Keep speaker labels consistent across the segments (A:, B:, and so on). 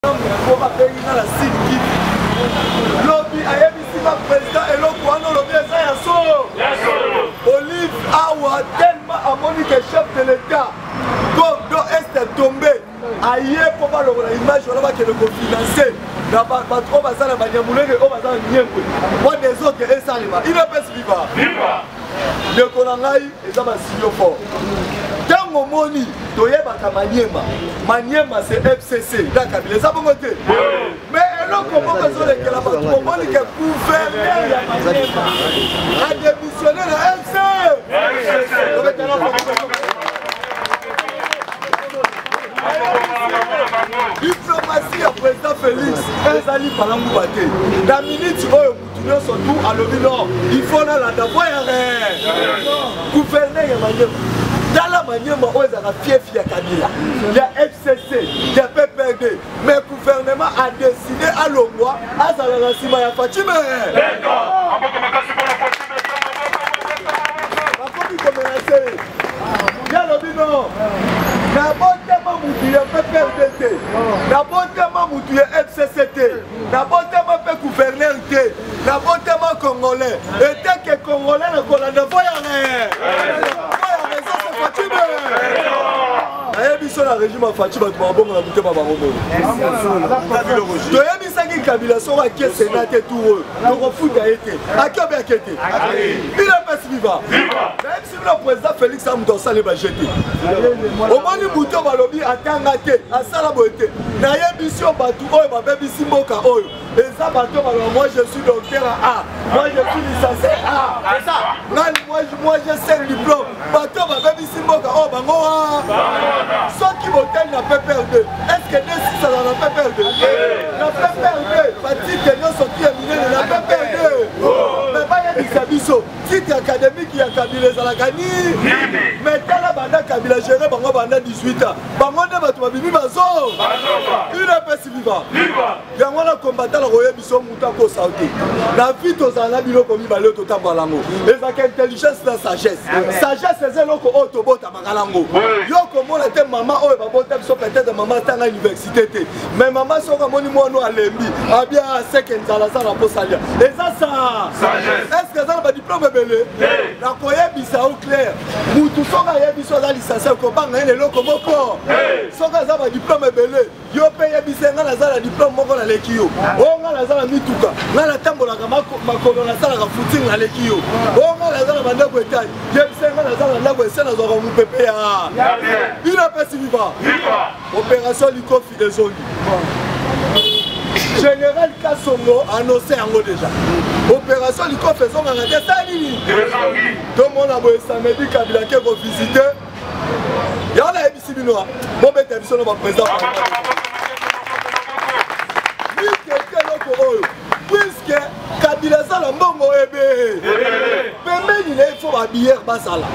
A: po babengi nga na sud kivu lobi ayebisi nga président eloko wana olobi eza ya solo olive awa tellement amoni ke chef de l'état gordo est tombe aye po balongola image wana bakende kofinanse na bato oyo baza na banyamulenge oyo baza na nyembwe po desordre esalema inapesi viva ndeko na ngai eza basilio fort ntango omoni toyebaka maniema maniema se fcc na kabila eza bongo te mais eloko moko ezolekela bato bomoni ke guverner ya maniema ademissione na fc diplomasi ya président félix ezali palanguba te na miniti oyo nyonso tu alobi no il faut nalanda boyare gouverneur ya manyema tala manyema oyo ezalaka fiefi ya kabila ya fcc ya pprd mais gouvernement a décide alongwa azala na nsima ya fatime bakomi komela se ye alobi no nabotama motu ya pprd te nabotama motu ya fcc te nabotama mpe guverner te nabotama congolais eteke congolais na kolanda voyare voyare sasa fatime nayebi biso na régime ya faci bato babongo na motema bango bongo toyebisaki kabila soko ake sena te tour oyo tokofuta ye te ake obe ake te bino mpasi viva na président félix a moto asali baje te omoni buto balobi atanga te asala boye te nayebisi yo bato oyo babebisi mboka oyo eza bato baloba moi je suis docteur a moi je suis license a nani moi je sel diplôme bato babebisi mboka oyo bango wa soki botali na pprd estce nde sisala na pprd na pprd batike nyonso kiye minene na pprd me bayebisa biso titre académique ya kabila ezalaka nini mais tala banda kabila gere bango banda 18 ans bango nde bato babimi bazo udps viva yango wana kombatala koye biso moto akosa te na vie tozala na biloko mibale oyo totambola yango ezalaka intelligence na sagesse sagesse eza eloko oyo tobotama yango yo komona te mama oyo babota biso peut-être mama atanga université te mais mama soki amoni mwana alembi abia aseke nzala aza na mposa lia eza sa estce aza na badiplome ebele na koyebisa yo claire mutu soki ayebi so aza lisanse okobanga ye na eloko moko soki aza badiplome ebele yo mpe yebisa ngai naza na diplome moko naleki yo o ngai naza na mituka ngai natambolaka makolo nasalaka footing naleki yo o ngai naza na bandako etali yebisa ngai naza na ndako ese nazwaka mopepe ya bino apesi viva opération likofi ezongi général kasongo annonce yango déjà opération likofi ezongaka te sa nini tomona boye samedi kabila ke kovisite Merci bino. Hein. Bon bête biso na ba président. Ni quelqu'un loko oyo. Puisque Kabila sala mbongo ebe. Pembeni na ifo ba bière basala.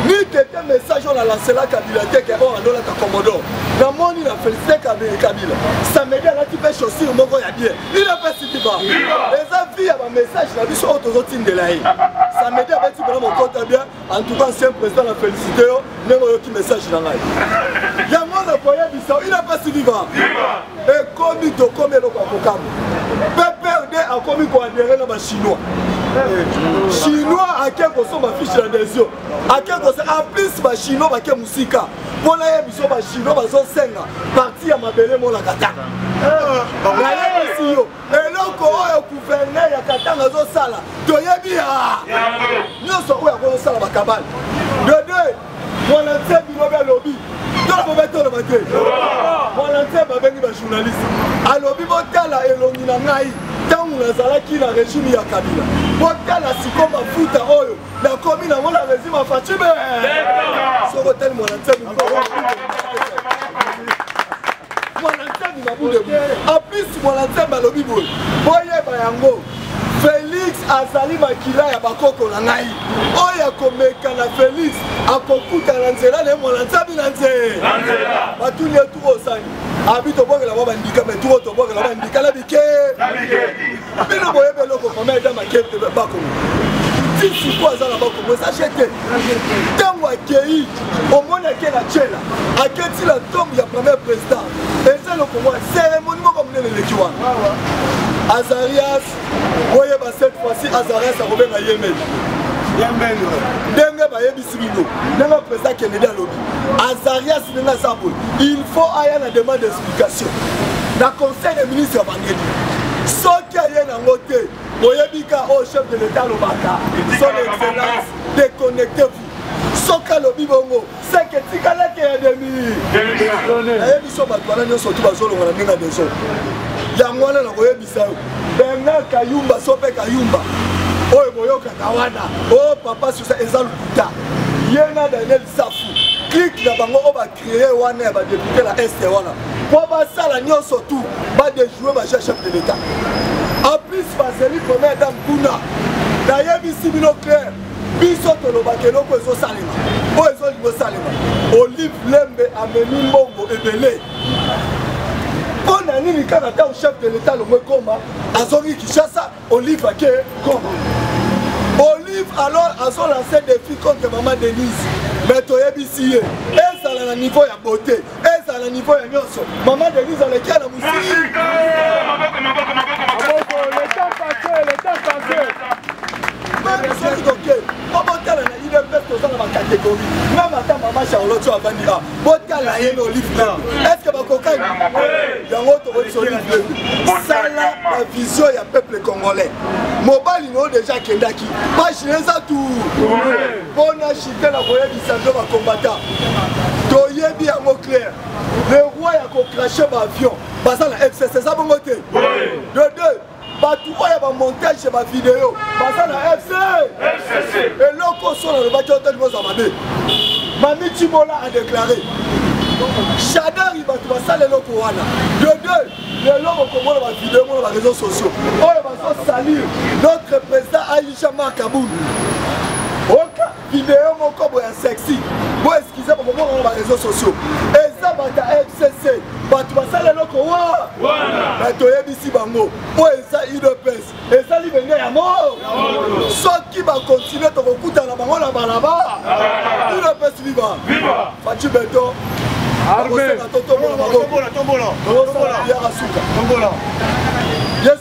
A: Ni quelqu'un message on a lancé la Kabila te ke on andola ka komodo. Na moni na félicité Kabila Kabila. Samedi ala ti pe chaussure moko ya bien. Il a pas cité ba. Les avis ya ba message na biso oyo tozotindela ye. Samedi abeti bana mokota bien. En tout cas, ancien président, la félicité, yo, même au qui message dans la Yango na koya bisa, il a pas si vivant. Et comme il to comme le kwa kokam. PPRD a commis ko adhérer na ba chinois. Chinois a ke ko so ba fiche na des yeux. A ke ko en plus ba chinois ba ke musika. Pona ye biso ba chinois ba zo senga parti ya mabele mo la kata. Eh, ba ye biso eloko oyo gouverneur ya katanga azosala toyebi ya nyonso oyo akozosala bakabale dede mwana nse bilobi alobi tolobobe toloba te mwana nse babengi bajournaliste alobi botala elongi na ngai ntango nazalaki na regime ya kabila botala siko mafuta oyo nakomi nango na rezima facibe soko tali mwana nzambe mwana nzambe mabule en plus mwana nzambe alobi boye boyeba yango felix azali makila ya bakoko na ngai oyo akomeka na felix akokuta na nzela na ye mwana nzambe na nzela batuni ye tuku osangi abi tobongela mwa bandika me tuku tobongela bandika na bike bino boyebi eloko mama eda makete bakongo tisi mpo aza na bakongo eza je te ntango akei omoni ake na tyela aketi na tombe ya premier président eza lokongo ya seremoni moko monene eleki wana azarias oyeba cette fois-ci azarias akobenga yemeli ndenge bayebi bino ndenge président kennedy alobi azarias ndenge aza boye il faut aya na demande d'explication na conseil de ministre ya bangeli soki aye nango te boyebi ka oyo oh, chef de l'état alobaka son excellence déconnecte vous soki alobi bongo seke tikalaki ya demi ayebi so bato wana nyonso tu bazolonga na ndenge ya maison yango wana nakoyebi benga kayumba sope kayumba oyo boyokaka wana o oh, papa susa eza lokuta ye na daniel safu clike na bango oyo bacree wana ya badepute na est wana mpo basala nyonso tu badejoue baja chef de l'état en plus bazeli première dame kuna nayebisi bino claire biso tolobaka eloko ezosalema oyo ezolinga osalema olive lembe amemi mbongo ebele mpo na nini kaka ntango chef de l'etat longo ekoma azongi kinshasa olive ake congo olive alors azolanse défi contre mama denise mais toyebisi ye ezala na niveau ya beauté ezala na niveau ya nyonso mama denise aleki ya na mosiki meme soki toke obotala na udps toza na bacatégorie meme ata mama charlotte oyo avandi a botala ye na olive blanc estce bakokani yango tokoyebisa olive blanc sala bavision ya peuple congolais mobali na yo deja akendaki pagine eza tu mpona chite na koyebisa mpe bakombata toyebi yango claire le roi ya kokrache baavion baza na fcc eza bongo te de deux bato oyo ya bamontage ya bavideo baza na fc eloko oso nalobaki otali boza mabe mami cimola adeklare shadari bato basala eloko wana de deux lelo okomona bavideo mona bareseau sociaux oyo bazosalir notre président aisha mark abulu video moko boye ya sexy bo eskize bokomonana ba réseau sociaux eza bato ya fcc bato basala eloko wa na toyebisi bango oyo eza udps eza libenge ya mor soki bakontinue tokokutana bango na balaba udps viva faci beton akosenga totombola maboko tokosalabiyaka suka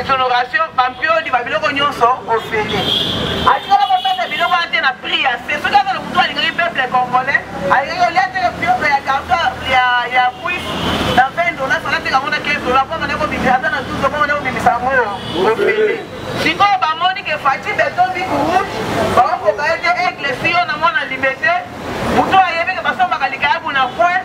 B: exonoration bampiodi babiloko nyonso ofele atikala kopesa biloko wana te na prix ya se soki azala motu alingaki peuple congolais alingaki olia te piope ya karto ya kuis na 20 dollars alateka yango na 15 dollars mpo mane kobimisa ata na 12 mpo mane kobimisa yango oyo ofele sikoyo bamoni ke fati beton biku rouge bakokoka ye te aigle siyo na mwana libete motu ayebeke basombaka likayabu na point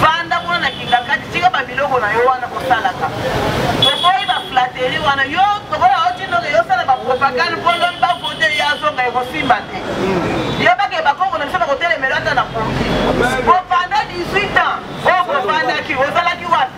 B: vanda kuna na kingakati tika babiloko na yo wana kosalaka tokoyi baflateri wana yo tokola otindoke yosala bapropagande mpo lobi bavote ye azonga ekosimba te yebake bakongo na biso bakotelemela ata na pongi bofanda 18 ans oyo bofandaki ozalaki wapi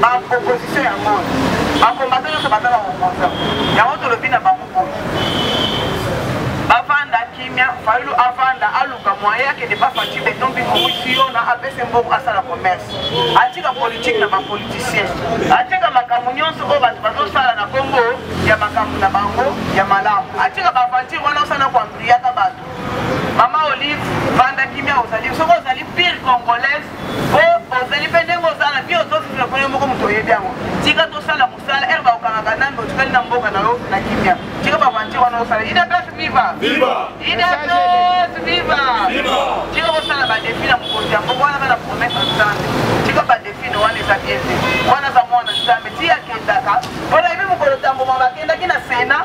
B: ba opposition ya ngoi bakombata nyonso baza baoposa yango tolobi na bango boye bavanda kimia fayulu avanda aluka moye akende bafati beton bikomwisi yo na apese mbongo asala commerce atika politike na bapoliticien atika makambo nyonso oyo bato bazosala na kongo ya makambo na bango ya malamu atika baventure wana osana koampliaka bato mama olive vanda kimia ozali soki ozali pire congolaise ozali mpe ndenge oza na vie ozofifla mpo yo moko moto oyebi yango tika tosala mosala ere baokangaka nani otikali na mboka na yo na kimia tika bavanti wana osala idps viva idps viva tika kosala badefi na mokonzi ya mboka wana bana promese ya nzambe tika badefi no wana eza bien te wana aza mwana nzambe ti akendaka mpona yebi mokolo tamboma bakendaki na sena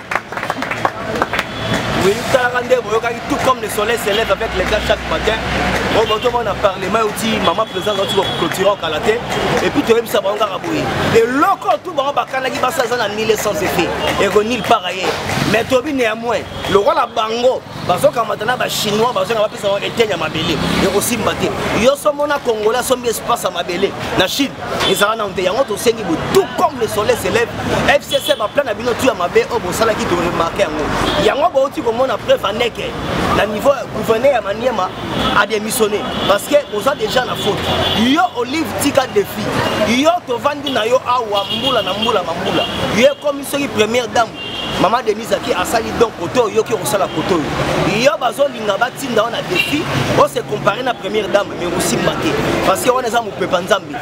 A: Oui, talaka nde boyokaki tout comme le soleil se lève avec les gars chaque matin oyo botoma na parlement euti mama président auti baclotira okala te epuis toyebisa bango kaka boye eloko tu bango bakanaki basi aza na 1100 effet eko nil par ailleurs mais tobi néanmoins lokola bango bazokamata
C: na bachinois bazonga bapesa yango eteni ya mabele ekosimba te yo somona congolais asombi espace ya mabele na chine ezala nano te yango tosengi bo tout comme le soleil s'élève fcc baplan na bino tu ya mabe oyo bosalaki toremarke yango yango bouti komona preuve aneke na niveau gouverneur ya maniema adémissionné parce que oza déjà na faute yo olive tika défi yo tovandi na yo awa mbula na mbula mambula yo ekomi soki première dame mama denise aki asali don kote oyoki okosala kote oyo yo bazolinga batinda yo na defi ose compare na première dame mais osimba te parce que wana eza mopepa nzambe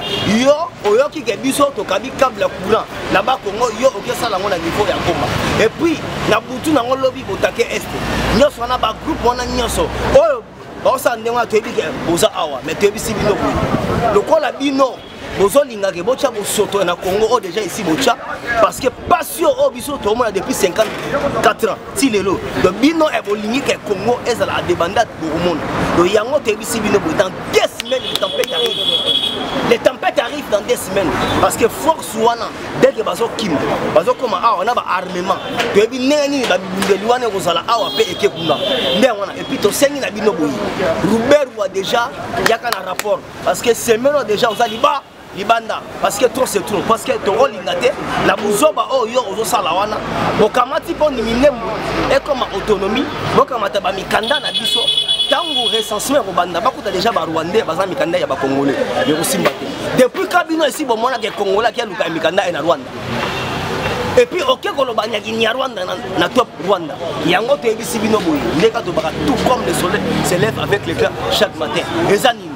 C: yo oyoki ke biso tokabi cable ya courant na bakongo yo okesala yango na niveau ya goma epuis na butu nango lobi botake este nyonso wana bagroupe wana nyonso oyo baosala ndenge wana toyebi ke boza awa mais toyebisi bino boye lokola bino bozolinga ke botya bosoto na congo oyo oh, déjà esi botya parce que pasi oyo oh, biso toomona depuis 54 ans ti lelo do bino e bolingi ke congo ezala adebandate bokomona do yango toyebisi bino boye dans deux semaines le tempête arrive le tempête arrive dans deux semaines parce que force wana dès que bazokima bazokoma awa na baarmement toyebi ndenge nini babibundeli wana ekozala awa mpe eke kuna ndenge wana epuis tosengi na bino boye ruberwa déjà yaka na rapport parce que semelo déjà oza liba libanda parce que trop c'est trop parce que tokolinga te na buzoba oyo oh, yo ozosala wana bokamati mpo minembo ekoma autonomie bokamata bamikanda na biso ntango recensement ekobanda bakuta déjà barwandais baza mikanda ya bacongolais ekosimba te depuis kabino esi bomonaka ekongolaki aluka ya mikanda ye na rwanda epuis oke koloba nyaki nyarwanda na, na top rwanda yango toyebisi bino boye ndeka tobaka tout comme le soleil se lève avec le clan chaque matin eza nini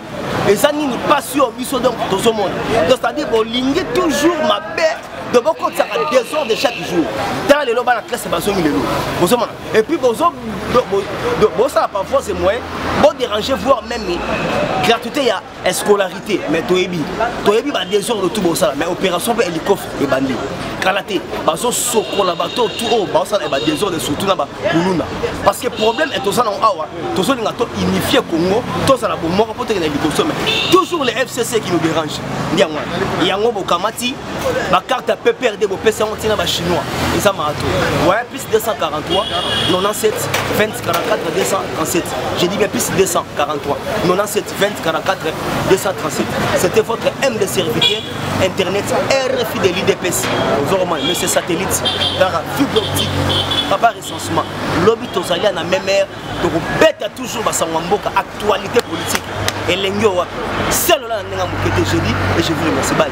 C: eza nini mpasi oyo biso donc tozomona donc c'est-à-dire bolingi toujours mabe donc bokotisaka desor de chaque jour tala lelo bana classe bazongi lelo bozomona epuis bosala parfois se moyen bodérange voir même gratuité ya scolarité mais toyebi toyebi badésordre tout bosala mais opération mpe hélicophe ebandi kala te bazosokola bato tu oyo baosala badésordre surtout na bakuluna parce que problème toza nango awa tozolinga to unifie congo tozala bomoko mpo tokenda liboso me toujours le fcc qui nous dérange ndi yango wana yango bokamati bacarte ya pprd bopesa yango ntina bachinois eza marato waya plus 243 97 20 44 237 je dis bien plus 243 97 2044 237 c'était votre mdc républicain internet rfi de l'idps ozoromani monsieur satellite kaka fibre optique papa recensement lobi tozali ya na meme aire tokobeta toujours basango ya mboka actualité politique elengi oyo wapi selo la na ndenge ya moke te je dis et je vous remercie bye